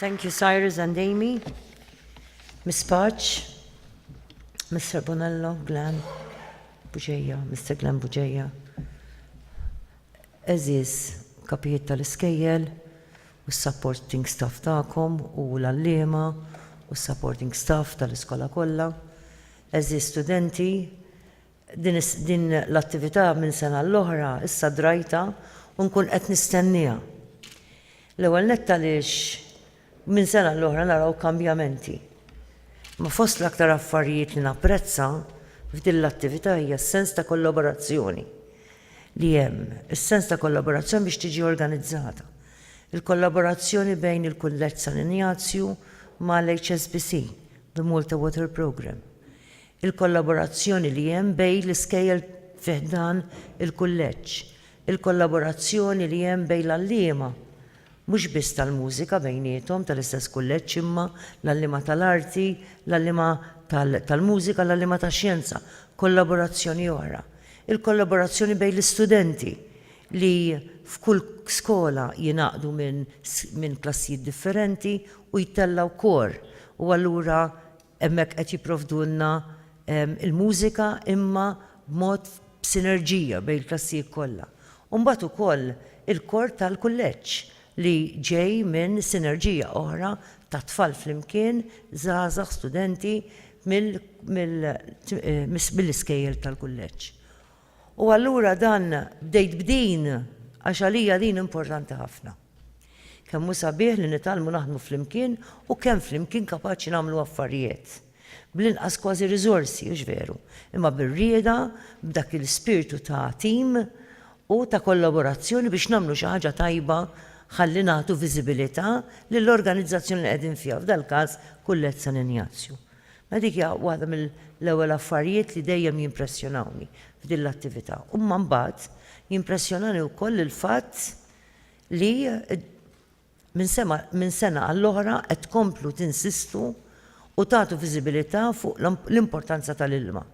Thank you, Cyrus and Amy. Miss Patch, Mr. Bonello, Glenn, Bugeja, Mr. Glenn Bugeja. Eżis, kapijiet tal-iskejjel, u supporting staff ta'kom, u l-allima, u supporting staff tal-iskola kollha. Eżis studenti, Din l-attività minn sena l-oħra issa drajtha u nkun qed nistennieha. L-ewwel nett għaliex minn sena l-oħra naraw kambjamenti. Ma fost l-aktar affarijiet li napprezza f'din l-attività hija s-sens ta' kollaborazzjoni li hemm, is-sens ta' kollaborazzjoni biex tiġi organizzata. Il-kollaborazzjoni bejn il-Kulleġġ San Injazju ma' l-HSBC, The Malta Water Programme. il-kollaborazzjoni li hemm bejn l-iskejjel fi ħdan il-kulleġġ, il-kollaborazzjoni li hemm bejn l-għalliema, mhux biss tal-mużika bejniethom tal-istess kulleġġ imma l-għalliema tal-arti, l-għalliema tal-mużika, l-għalliema tax-xjenza, kollaborazzjoni oħra, il-kollaborazzjoni bejn l-istudenti li f'kull skola jingħaqdu minn klassijiet differenti u jtellgħu kor u allura Hemmhekk qed jipprovdulna l-mużika imma b'mod b'sinerġija bejn il-klassijiet kollha. U mbagħad ukoll il-kor tal-kulleġġ li ġej minn sinerġija oħra ta' tfal flimkien, żgħażagħ, studenti mill-iskejjel tal-kulleġġ. U allura dan bdejt b'din għax għalija din importanti ħafna. Kemm hu sabiħ li nitgħallmu naħdmu flimkien u kemm flimkien kapaċi nagħmlu affarijiet. Bl-inqas kważi riżorsi, hux veru, imma bir-rieda, b'dak il-spirtu ta' tim u ta' kollaborazzjoni biex nagħmlu xi ħaġa tajba ħalli nagħtu viżibilità lill-organizzazzjoni li qegħdin fiha, f'dal-każ Kullett San Injazju. Mela dik hija waħda mill-ewwel affarijiet li dejjem jimpressjonawni f'din l-attività. Imma mbagħad jimpressjonani wkoll il-fatt li minn sema minn sena għall-oħra qed tkomplu tinsistu u tagħtu viżibilità fuq l-importanza tal-ilma.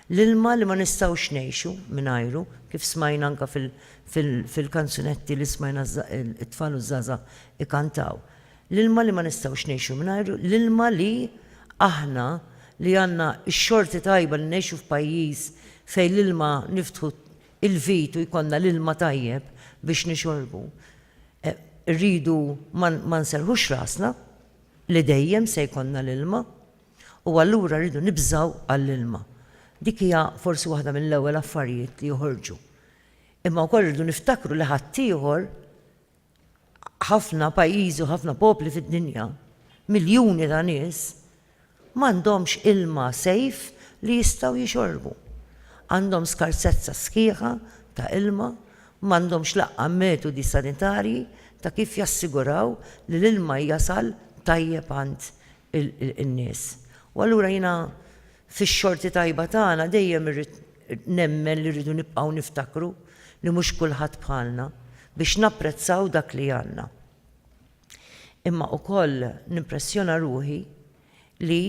L-ilma li ma nistgħux ngħixu mingħajru, kif smajna anke fil-kanzunetti li smajna t-tfal u ż-żgħażagħ ikantaw. L-ilma li ma nistgħux ngħixu mingħajru, l-ilma li aħna li għandna x-xorti tajba li ngħixu f'pajjiż fejn l-ilma niftħu il-vit u jkollna l-ilma tajjeb biex nixorbu, irridu ma nserrħux rasna li dejjem se jkollna l-ilma u allura rridu nibżgħu għall-ilma. Dik hija forsi waħda mill-ewwel affarijiet li joħorġu. Imma wkoll irridu niftakru li ħaddieħor ħafna pajjiżi u ħafna popli fid-dinja, miljuni ta' nies, m'għandhomx ilma safe li jistgħu jixorbu. Għandhom skarsezza sħiħa ta' ilma, m'għandhomx l-aqqa metodi sanitarji ta' kif jassiguraw li l-ilma jasal tajjeb għand in-nies. U allura jiena fix-xorti tajba tagħna dejjem irrid nemmen li rridu nibqgħu niftakru li mhux kulħadd bħalna biex napprezzaw dak li għandna. Imma ukoll nimpressjona ruħi li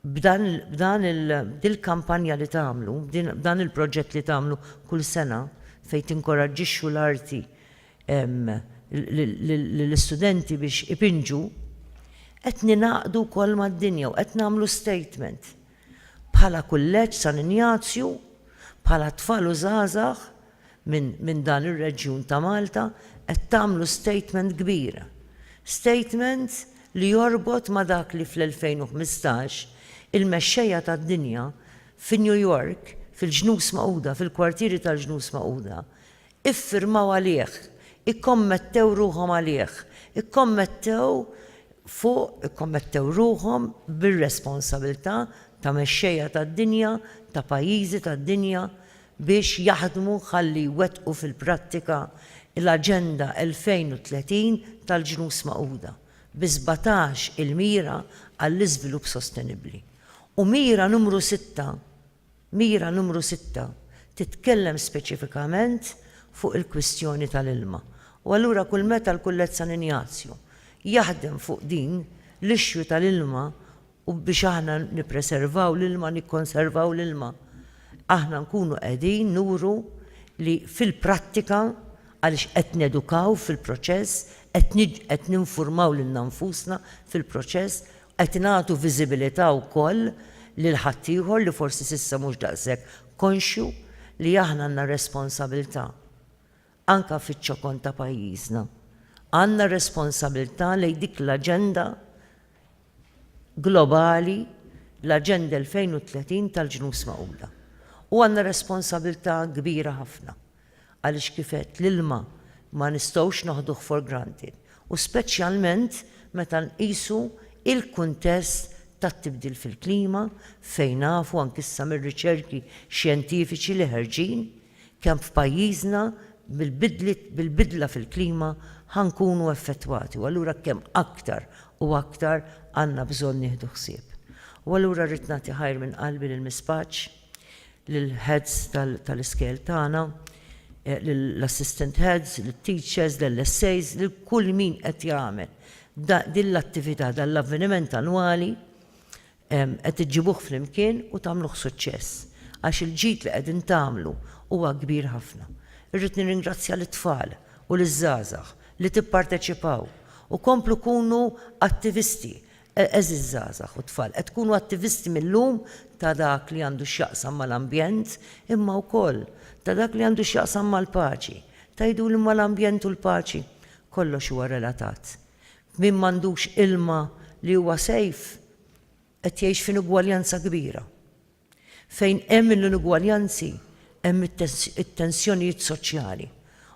b'dan b'dan il b'dil-kampanja li tagħmlu, b'din b'dan il-proġett li tagħmlu kull sena fejn tinkoraġġixxu l-arti lill-istudenti biex ipinġu, qed ningħaqdu wkoll mad-dinja u qed nagħmlu statement bħala Kulleġġ San Injazju, bħala tfal u żgħażagħ minn dan ir-reġjun ta' Malta, qed tagħmlu statement kbir. Statement li jorbot ma' dak li fl-2015 il-mexxejja tad-dinja fi New York, fil-Ġnus Magħquda, fil-kwartieri tal-Ġnus Magħquda, iffirmaw għalih, ikkommettew ruħhom għalih, ikkommettew fuq, ikkommettew ruħhom bir-responsabilità ta' mexxejja tad-dinja, ta' pajjiżi tad-dinja biex jaħdmu ħalli jwettqu fil-prattika l-Aġenda 2030 tal-Ġnus Magħquda bi sbatax il-mira għall-iżvilupp sostenibbli u mira numru sitta, Mira numru sitta titkellem speċifikament fuq il-kwistjoni tal-ilma u allura kull meta l-Kullett San Injazju jaħdem fuq din l-issue tal-ilma u biex aħna nippreservaw l-ilma, nikkonservaw l-ilma, aħna nkunu qegħdin nuru li fil-prattika, għaliex qed nedukaw fil-proċess, qed ninfurmaw lilna nfusna fil-proċess Qed nagħtu viżibilità wkoll lil ħaddieħor li forsi s'issa mhux daqshekk konxju li aħna għandna responsabilità anke fiċ-ċokon ta' pajjiżna. Għandna responsabilità lejn dik l-aġenda globali, l-Aġenda 2030 tal-Ġnus Magħquda. U għandna responsabilità kbira ħafna. Għaliex kif għedt, l-ilma ma nistgħux naħduh for granted u speċjalment meta nqisu l-kuntest tat-tibdil fil-klima fejn nafu anki issa mir-riċerki xjentifiċi li ħerġin kemm f'pajjiżna bil-bidliet bil-bidla fil-klima ħa nkunu effettwati u allura kemm aktar u aktar għandna bżonn nieħdu ħsieb. U allura rrid nagħti ħajr minn qalbi lil Miss Paċ. lill-heads tal-iskejjel tagħna, lill-assistant heads, lit-teachers, lill-SAs, lil kull min qed jagħmel din l-attività, dan l-avveniment annwali, qed iġġibuh flimkien u tagħmluh suċċess, għax il-ġid li qegħdin tagħmlu huwa kbir ħafna. Irrid nirringrazzja lit-tfal u liż-żgħażagħ li tipparteċipaw u komplu kunu attivisti, Għeżież żgħażagħ u tfal, qed tkunu attivisti mil-lum ta' dak li għandu x'jaqsam mal-ambjent imma wkoll ta' dak li għandu x'jaqsam mal-paċi. Tgħiduli imma l-ambjent u l-paċi? Kollox huwa relatat. Min m'għandux ilma li huwa safe qed jgħix f'inugwaljanza kbira. Fejn hemm l-inugwaljanzi hemm it-tensjonijiet soċjali.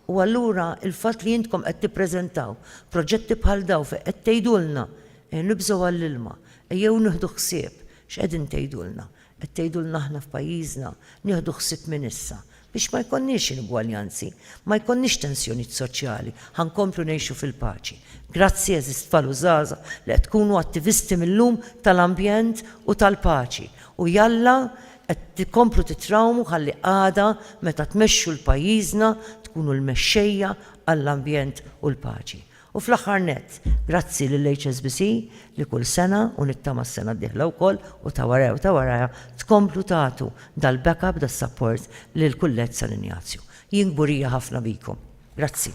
U allura il-fatt li intkom qed tippreżentaw proġetti bħal dawn fejn qed tgħidulna ejja nibżgħu għall-ilma, ejjew nieħdu ħsieb, x'qegħdin tgħidulna? Qed tgħidulna aħna f'pajjiżna nieħdu ħsieb minn issa Biex ma jkollniex inugwaljanzi, ma jkollniex tensjonijiet soċjali, ħa nkomplu ngħixu fil-paċi. Grazzi għeżież tfal u żgħażagħ li qed tkunu attivisti mil-lum tal-ambjent u tal-paċi u jalla qed tkomplu titrawmu ħalli għada meta tmexxu l-pajjiżna tkunu l-mexxejja għall-ambjent u l-paċi. U fl-aħħar nett, grazzi lill-HSBC li kull sena, u nittama s-sena d-dieħla wkoll, u ta' warajha u ta' warajha, tkomplu tagħtu dal-backup, das-sapport lill-Kulleġġ San Injazju. Jien kburija ħafna bikom. Grazzi.